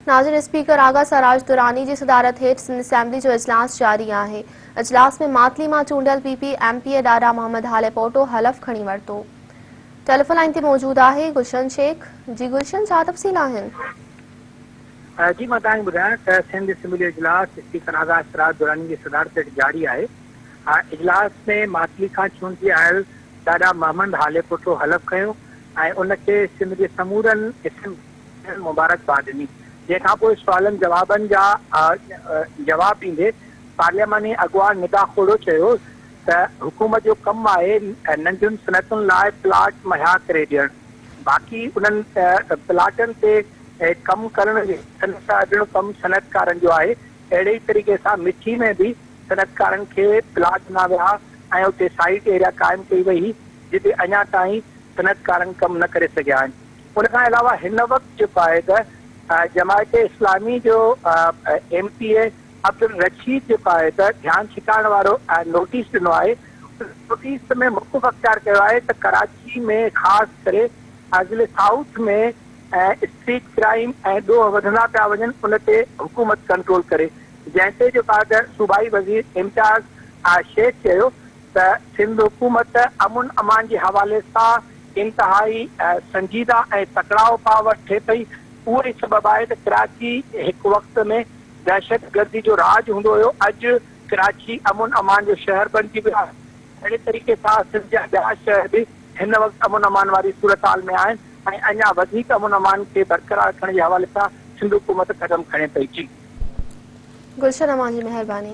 ناظرين اسپيڪر آغا سراج دراني جي صدارت هيٺ سنڌ اسيمبلي جو اجلاس جاري آهي اجلاس ۾ ماتلي مان چونڊيل P P M P A Dada Muhammad Halepoto حلف کڻي ورتو ٽيليفون لائين تي موجود آهي گلشن شيخ جي گلشن ڇا تفصيل آهن جي مان توهان کي ٻڌايان ته سنڌ اسيمبلي جو اجلاس اسپيڪر آغا سراج دراني جي صدارت هيٺ جاري آهي اجلاس ۾ ماتلي کان چونڊجي آيل ڏاڏا محمد هاليپوٽو حلف کنيو ۽ ان کي سنڌ جي سمورن اسيمبلي کين مبارڪباد ڏني جنهن کانپوء سوالن جوابن جا جواب ڏيندي پارلياماني اڳواڻ ندا کوڙو چيو ته حڪومت جو ڪم آهي ننڍين صنعتن لاء پلاٽ مهيا ڪري ڏيڻ باقي انهن پلاٽن تي ڪم ڪرڻ جو ڪم صنعتڪارن جو آهي اهڙي ئي طريقي سان مٺي ۾ به صنعتڪارن کي پلاٽ ڏنا ويا ۽ اتي سائيٽ ايريا قائم ڪئي وئي هئي جتي اڃا تائين صنعتڪارن ڪم نه ڪري سگهيا آهن ان کان علاوه هن وقت جيڪو آهي ته جماعت اسلامي جو ايم پي اي عبدالرشيد جيڪو آهي ته ڌيان ڇڪائڻ وارو نوٽيس ڏنو آهي ان نوٽيس ۾ موقف اختيار ڪيو آهي ته ڪراچي ۾ خاص ڪري ضلعي سائوٿ ۾ اسٽريٽ ڪرائيم ۽ ڏوهه وڌندا پيا وڃن ان تي حڪومت ڪنٽرول ڪري جنهن تي جيڪو آهي ته صوبائي وزير امتياز شيخ چيو ته سنڌ حڪومت امن امان جي حوالي سان انتهائي سنجيده ۽ تڪڙا اپاء وٺي پئي، اهو ئي سبب آهي ته ڪراچي هڪ وقت ۾ دهشتگردي جو راڄ هوندو هيو، اڄ ڪراچي امن امان جو شهر بڻجي ويو آهي، اهڙي طريقي سان سنڌ جا ٻيا شهر به هن وقت امن امان واري صورتحال ۾ آهن ۽ اڃا وڌيڪ امن امان کي برقرار رکڻ جي حوالي سان سنڌ حڪومت قدم کڻي پئي جي. گلشن امان جي مهرباني.